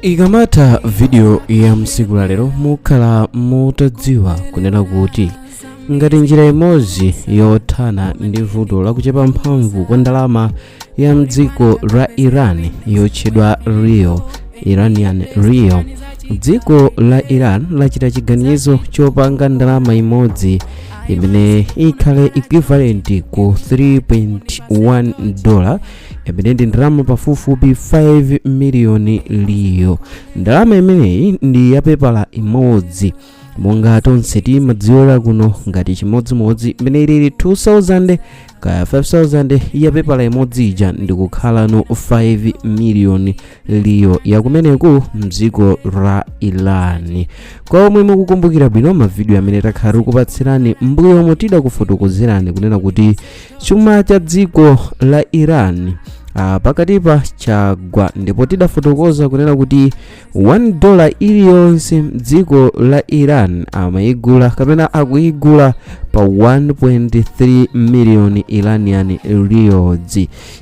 ikamatha vidiyo ya msiku la lero mukhala mutadziwa kunena kuti ngati njira imodzi yothana ndi vuto lakuchepa mphamvu kwa ndalama ya mdziko la iran yotchedwa rial iranian rial dziko la iran lachita chiganizo chopanga ndalama imodzi imene ikhale equivalent ku 3.1 dola imene ndi ndalama pafupifupi 5 miliyoni rial ndalama imeneyi ndi yapepala imodzi monga tonse timadziwira kuno ngati chimodzimodzi imene ilili 2000 kaya 5000 yapepala imodzi ija ndikukhalano 5 miliyoni rial yakumeneku mdziko la iran kwa omwe mukukumbukira bwino mavidiyo amene takhala tikupatsirani mbuyomu tidakufotokozerani kunena kuti chuma cha dziko la iran ah, pakatipa chagwa ndipo tidafotokoza kunena kuti 1 dola iliyonse mdziko la iran amayigula kapena akuyigula pa 1.3 miliyoni iranian rials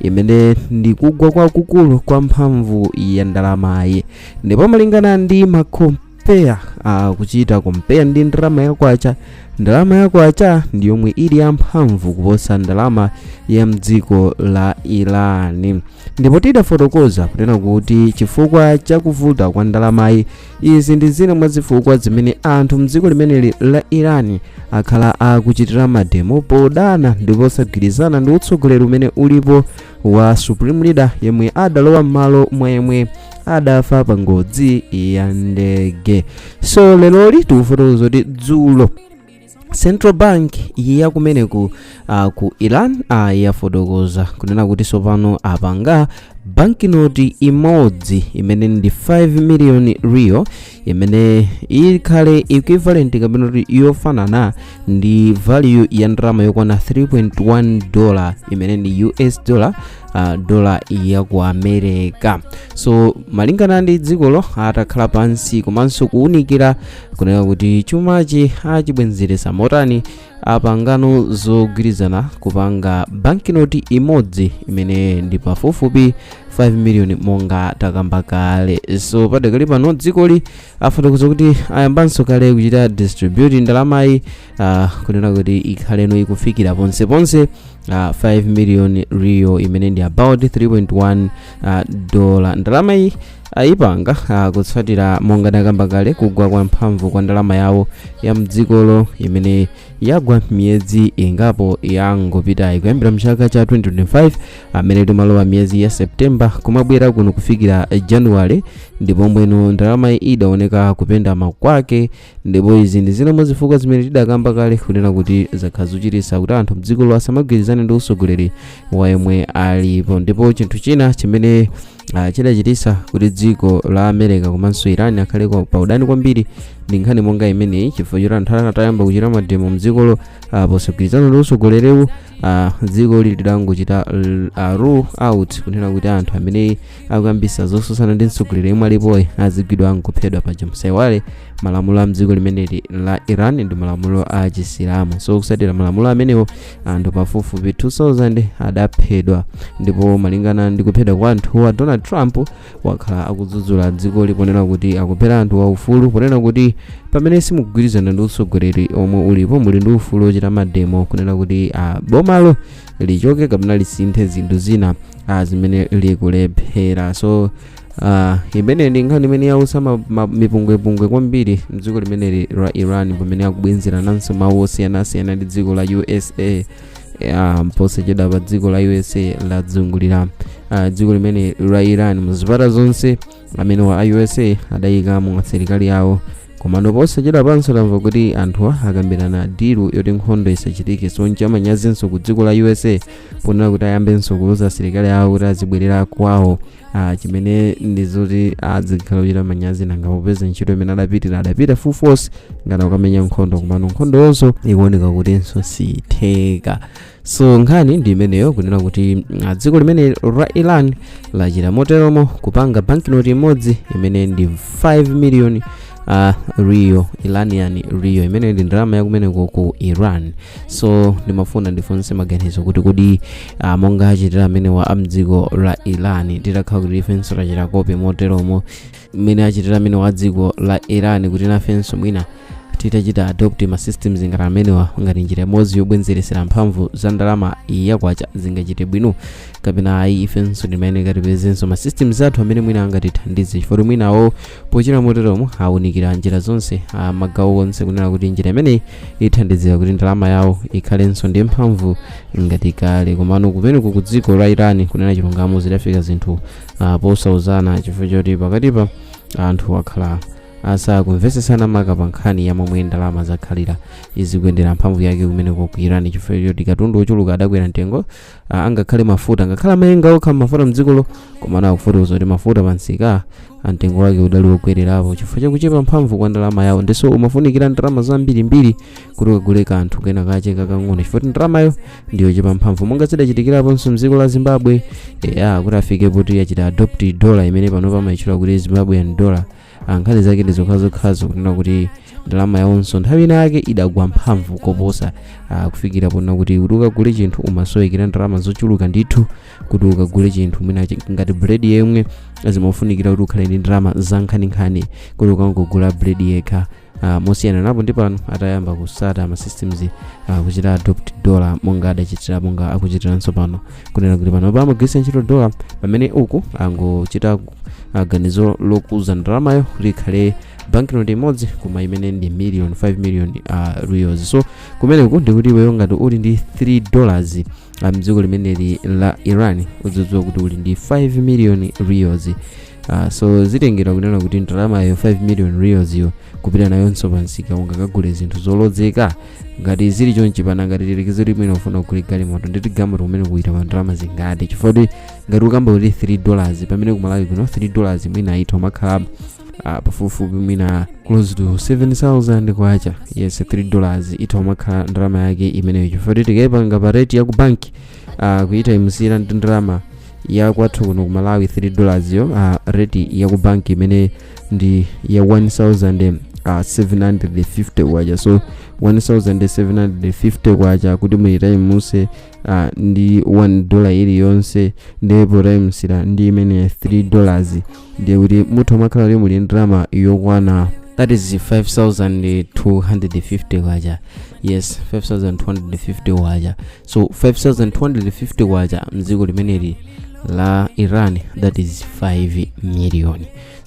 imene ndi kugwa kwakukulu kwa mphamvu ya ndalamayi ndipo malingana ndi makom peya uh, kuchita kompeya ndi ndalama ya kwacha ndalama ya kwacha ndi yomwe ili yamphamvu kuposa ndalama ya mdziko la iran ndipo tidafotokoza kunena kuti chifukwa cha kuvuta kwa ndalamayi izi ndi zina mwa zifukwa zimene anthu mdziko limeneli la iran akhala akuchitira mademo podana ndi posagwirizana ndi utsogoleri umene ulipo wa supreme leader yemwe adalowa m'malo mwa yemwe adafa pa ngozi ya ndege so leloli tikufotokoza kuti dzulo central bank ya kumeneku uh, ku iran uh, yafotokoza kunena kuti sopano apanga bankinoti imodzi imene ndi 5 million rial imene ikhale equivalent kapena kuti yofanana ndi value ya ndalama yokwana 3.1 dollar imene ndi us dollar uh, dola ya ku america so malingana ndi dzikolo atakhala pansi komanso kuwunikira kunena kuti chumachi achibwenzeretsa motani apangano zogwirizana kupanga bankinoti imodzi imene ndi pafupifupi 5 million monga takamba kale so padakali pano dzikoli afotokoza kuti ayambanso kale kuchita distribute ndalamayi uh, kunena kuti ikhaleno ikufikira ponse ponse uh, 5 million rial imene ndi about 3.1 uh, dola ndalamayi ayipanga uh, kutsatira monga takamba kale kugwa kwa mphamvu kwa ndalama yawo ya mdzikolo imene yagwa miyezi ingapo yangopitayi kuyambira mchaka cha 2025 amene timalowa miyezi ya september kumabwera kuno kufikira january ndipo mbwenu ndalamayi idaoneka kupenda kwake ndipo izi ndi zina mwa zifukwa zimene tidakamba kale kunena kuti zakhala zochititsa kuti anthu mdzikolo asamagwirizane ndi usogoleri wa yemwe alipo ndipo chinthu china chimene uh, chidachititsa kuti dziko la america komanso iran akhale kwa- pa udani kwambiri ndi nkhani monga imeneyi chifukwa choti anthu atayamba kuchita mademo mdzikolo uh, posagwirizana ndi usogolerewu ah, dzikoli lidangochita l- ah, rule out kunena kuti anthu amene akuyambisa zosusana ndi mtsogoleri yemwe alipoyi azigwidwa nkuphedwa paja musaiwale malamulo a mdziko limeneli la iran ndi malamulo a chisilamu so kusatira malamulo amenewo anthu pafupifupi 2000 adaphedwa ndipo malingana ndi kuphedwa kwa anthuwa donald trump wakhala akudzudzula dzikoli ponena kuti akuphera anthu aufulu ponena kuti pamene simugwirizana ndi utsogoleri omwe ulipo muli ndi ufulu ochita mademo kunena kuti ah, bomalo lichoke kapena lisinthe zinthu zina ah, zimene likulephera so ah, imene ndi nkhani imene yausa ma- ma- mipungwepungwe kwambiri mdziko limeneli la iran pamene akubwenzera nanso mawu osiyanasiyana ndi dziko la usa ya posachedwapa dziko la usa lazungulira ah, dziko limene la iran muzipata zonse amenewa a usa adayikamo asilikali awo komano posachedwapanso tamva kuti anthuwa akambirana deal yoti nkhondo isachitike so ncha manyazinso ku dziko la usa ponena kuti ayambenso kuuza asilikali awo kuti azibwerera kwawo ah, chimene ndi zoti azikhala kuchita manyazi nanga popeza ntchito imene adapitira adapita full force ngati okamenya nkhondo komano nkhondoyonso ikuoneka kutinso siitheka so nkhani ndi imeneyo kunena kuti ah, dziko limene la iran lachita moteromo kupanga banknote imodzi imene ndi 5 million uh, rial iranian rial imene ndi ndalama yakumeneko ku iran so ndimafuna ndifunse maganizo kuti kodi uh, monga achitira amenewa amdziko la iran titakhala kuti ifenso tachita copy moteromo mmene achitira amenewa adziko la iran kuti nafenso mwina titachita adopt ma systems ngati amenewa ngati njira imodzi yobwenzeresera mphamvu za ndalama yakwacha zingachite bwino kapena ayi ifenso timayeneka tipezenso ma systems athu amene mwina angatithandize chifukwa mwinawo pochita moteromo awunikira njira zonse magawo onse kunena kuti njira imeneyi ithandizira kuti ndalama yawo ikhalenso ndi mphamvu ngati kale komano kumeneko ku dziko la iran kunena chilungamo zidafika zinthu ah, posauzana chifukwa choti pakatipa anthu akhala asakumvesesana maka pa nkhani ya momwe ndalama zakhalira izikuyendera mphamvu yake kumeneko ku iran chifukwa choti katundu wochuluka adakwera mtengo ah, angakhale mafuta ngakhale amayenga okha mafuta mdzikolo komano akufotokoza kuti mafuta pansika mtengo wake udali wokwererapo chifukwa chakuchepa mphamvu kwa ndalama yawo ndiso umafunikira ndalama zambirimbiri kuti ukagule kanthu kena kache kakang'ono chifukwa kuti ndalamayo ndiyochepa mphamvu monga zidachitikiraponso mdziko la zimbabwe eya kuti afike poti yachita adopt dollar imene panopa amayitchula kuti zimbabwean dollar Ah, nkhani zake ndi zokhazokhazo kunena kuti ndalama yawonso nthawi ina yake idagwa mphamvu koposa ah, kufikira ponena kuti kuti ukagule chinthu umasowekera ndalama zochuluka ndithu kuti ukagule chinthu mwina chi- ngati bread yemwe zimafunikira kuti ukhale ndi ndalama zankhaninkhani kuti ukangogula bread yekha uh, mosiyanapo ndi pano atayamba kutsata ma systems uh, kuchita adopt dollar monga adachitira monga akuchitiranso pano kunena kuti pano amagwiritsa ntchito dollar pamene uku angochita uh, ganizo lokuza ndalamayo kuti ikhale banknote imodzi koma imene ndi million 5 million uh, rials so kumeneku ndikuti iweyo ngati uli ndi 3 dollars uh, mdziko limeneli la iran udzidziwa kuti uli ndi 5 million rials Uh, so zitengera kunena kuti ndalamayo 5 million rials yo kupita nayonso pansika ungakagule zinthu zolozeka ngati zili chonchi panangokhala tsiku limene ufuna kugula galimoto nditi galimoto imeneyo ikuita pa ndalama zingati chifukwa kuti ngati ukamba kuti 3 dollars pamene kumalawi kuno 3 dollars mwina itha kumakhala uh, pafupifupi mwina close to 7000 kwacha yes 3 dollars itha kumakhala ndalama yake imeneyo chifukwa kuti tikayipanga pa rate ya ku banki uh, kuyitayimusira ndi ndalama ya kwathu kuno ku malawi 3 dollars yo uh, rate ya ku bank imene ndi ya 1750 kwacha so 1750 kwacha kuti muyitayimuse uh, ndi 1 dollar iliyonse ndipo potayimusira ndi imene 3 dollars ndiye kuti mutha kumakhala kuti muli ndalama yokwana that is 5250 kwacha yes 5250 kwacha so 5250 kwacha mdziko limeneli la iran that is 5 million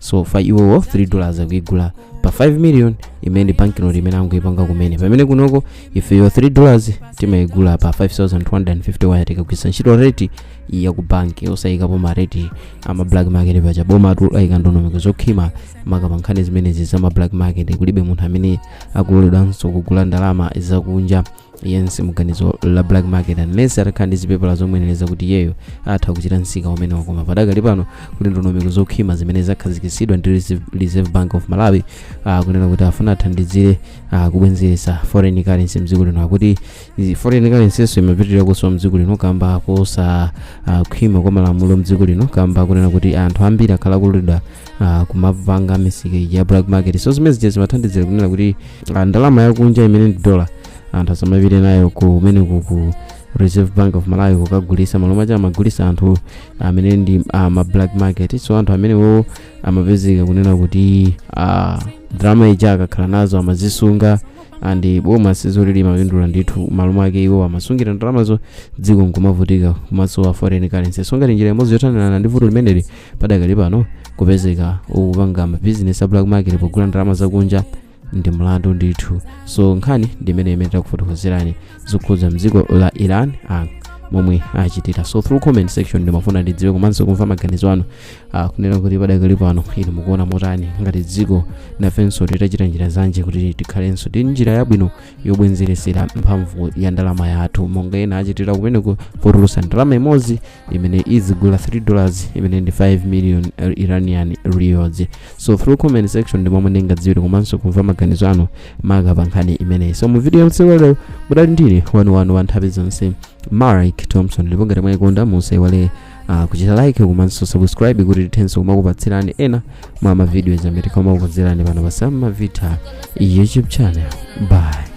so kwa iwowo 3 dollars akuigula pa 5 million imene ndi banknote imene angoipanga kumene pamene kunoko ifeyo 3 dollars timaigula pa 5250 kwacha tikagwiritsa ntchito rate ya ku banki osayikapo ma rate ama black market paja bomatu ayika ndondomeko zokhwima maka pa nkhani zimenezi za ma black market kulibe munthu amene akuloledwanso kugula ndalama zakunja yense mu dzina la black market unless atakhala ndi zipepala zomuyenereza kuti iyeyo atha kuchita msika umenewo koma padakali pano kuti ndondomeko zokhwima zimene zakhazikitsidwa ndi Reserve- reserve bank of malawi uh, kunena kuti afuna athandizire uh, kubwenzeretsa foreign currency mdziko lino akuti izi foreign currency-nso imapitirira kusowa mdziko lino kamba kosa uh, khwima kwa malamulo mdziko lino kamba kunena kuti anthu ambiri akhala akululidwa uh, kumapanga misika ija ya black market so zimene zija zimathandizira kunena kuti uh, ndalama yakunja imene ndi dola anthu asamapite nayo kumene kuku reserve bank of malawi kukagulisa m'malo mwake amagulisa anthu amene ndi uh, ma black market so anthu amenewo amapezeka kunena kuti uh, ndalama zija akakhala nazo amazisunga and boma silimapindula ndithu m'malo mwake iwo amasungira ndalamazo dziko nkumavutika kumasowa foreign currency so ngati njira imodzi yothanirana ndi vuto limeneli padakali pano kupezeka ukupanga mabizinesi a black market pogula ndalama zakunja ndi mlandu ndithu so nkhani ndi imeneyo imene takufotokozerani zokhudza mdziko la iran ah, momwe achitira so through comment section ndimafuna ndidziwe komanso kumva maganizo anu ah, kunena kuti padakali pano inu mukuona motani ngati dziko nafenso titachita njira zanji kuti tikhalenso ndi njira yabwino yobwezeretsera mphamvu ya ndalama yathu monga ena achitira kumeneko potulutsa ndalama imodzi imene izigula 3 dollars imene ndi 5 million eh, iranian rials so through comment section ndi momwe ndingadziwire komanso kumva maganizo anu maka pa nkhani imeneyi so mu video yamasana walero mudali ndi ine wanu wanu wa nthawi zonse mark thompson ndipo ngati mwayikonda musaiwale uh, kuchita like komanso subscribe kuti tithenso kumakupatsirani ena mwa mavidiyo amene timakukonzerani pano pa Sam Mavita youtube channel bye